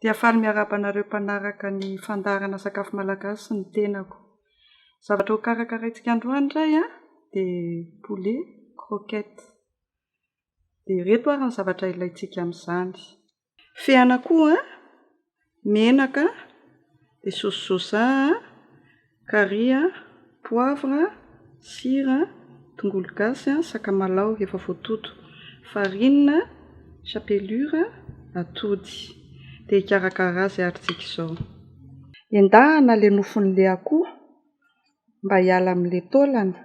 Dia faly miarahaba anareo mpanaraka ny fandaharana sakafo malagasy ny tenako. Zavatra ho karakaraintsika androany indray an, dia poulet croquette. Dia ireto ary ny zavatra ilaintsika amin'izany. Fen'akoho an, menaka, dia saosy soja an, carry a, poivre, sira, tongolo gasy, sakamalaho efa voatoto, farine, chapelure, atody. Dia hikarakara azy ary tsika izao. Endahana ilay nofon'ilay akoho mba hiala amin'ilay taolana.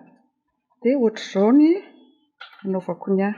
Dia ohatr'izao ny anaovako ny ahy.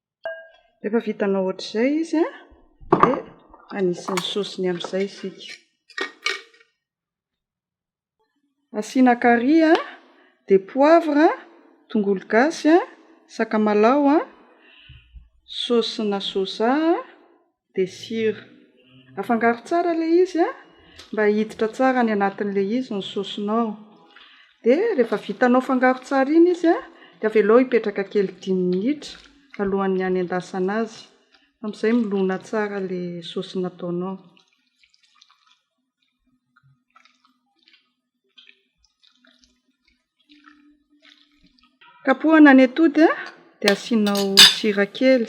Rehefa vitanao ohatr'izay izy dia anisy ny saosiny amin'izay isika. Asiana kary, dia poivre, tongolo gasy, sakamalao, saosina soja, de sira, afangaro tsara ilay izy a, mba hiditra tsara any anatin'ilay izy ny saosinao, de rehefa vitanao fangaro tsara iny izy a, de avelao hipetraka kely dimy minitra alohan'ny hanendasana azy, amin'izay milona tsara ilay saosy nataonao. Kapohana ny atody a, dia asianao sira kely.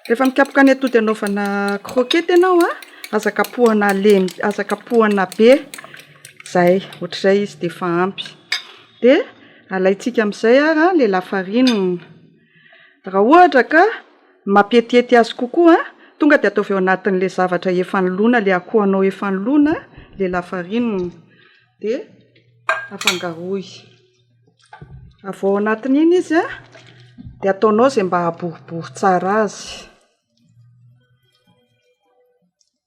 Rehefa mikapoka ny atody hanaovana croquette ianao a, aza kapohana lemy, aza kapohana be, zay, ohatr'izay izy dia efa ampy. Dia alaintsika amin'izay ary ilay lafarinina, raha ohatra ka mampietihety azy kokoa, tonga dia ataovy ao anatin'ilay zavatra efa nolona, ilay akohonao efa nolona ilay lafarinina, dia afangaroy. Avy ao anatin'iny izy an, dia ataonao izay mba haha-boribory tsara azy.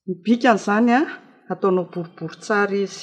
Ny bikany izany an, ataonao boribory tsara izy.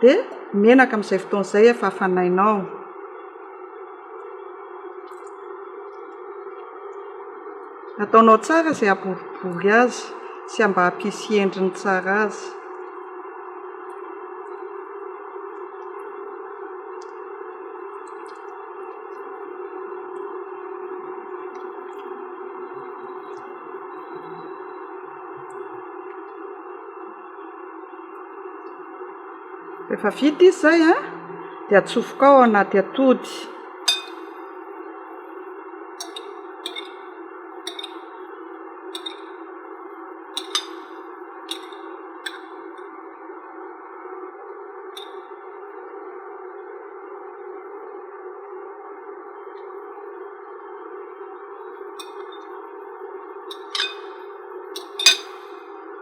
Dia menaka amin'izay fotoana izay efa hafanainao. Ataonao tsara izay haboribory azy sy mba hampisy endriny tsara azy. Rehefa vita izy izay an, dia atsofoka ao anaty atody.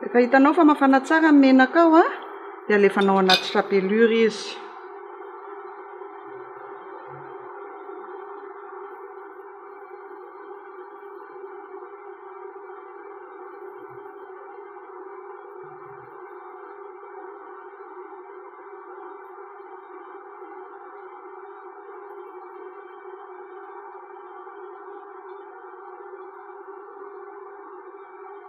Rehefa hitanao fa mafana tsara ny menaka ao dia alefanao anaty chapelure izy.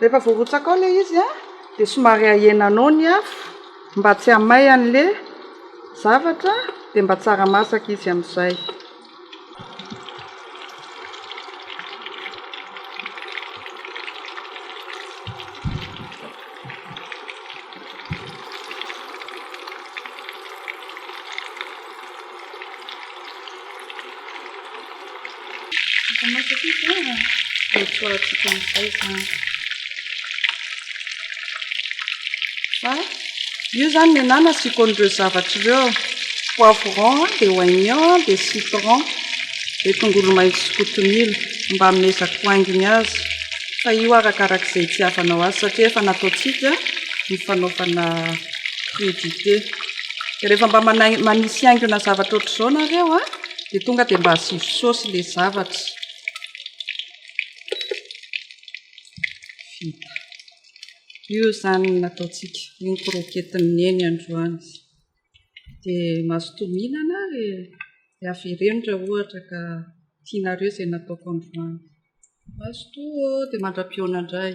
Rehefa voarotsakao ilay izy a, dia somary ahenanao ny afo mba tsy hamay an'ilay zavatra dia mba tsara masaka izy amin'izay. Io izany ny anà nasiako an'ireo zavatra ireo, poivron dia oignon dia citron dia tongolo maitso sy kotomila mba hamezako haingony azy fa io arakaraka izay itiavanao azy satria efa nataontsika ny fanaovana Crudité. Dia rehefa mba manai- manisy haingona zavatra ohatr'izao nareo an, dia tonga dia mba asivo saosy ilay zavatra. Vita. Io izany no nataontsika. Io ny croquette-n'i Neny androany. Dia mazotoa mihinana ary dia avereno raha ohatra ka tianareo izay nataoko androany. Mazotoa ô! Dia mandra-pihaona indray.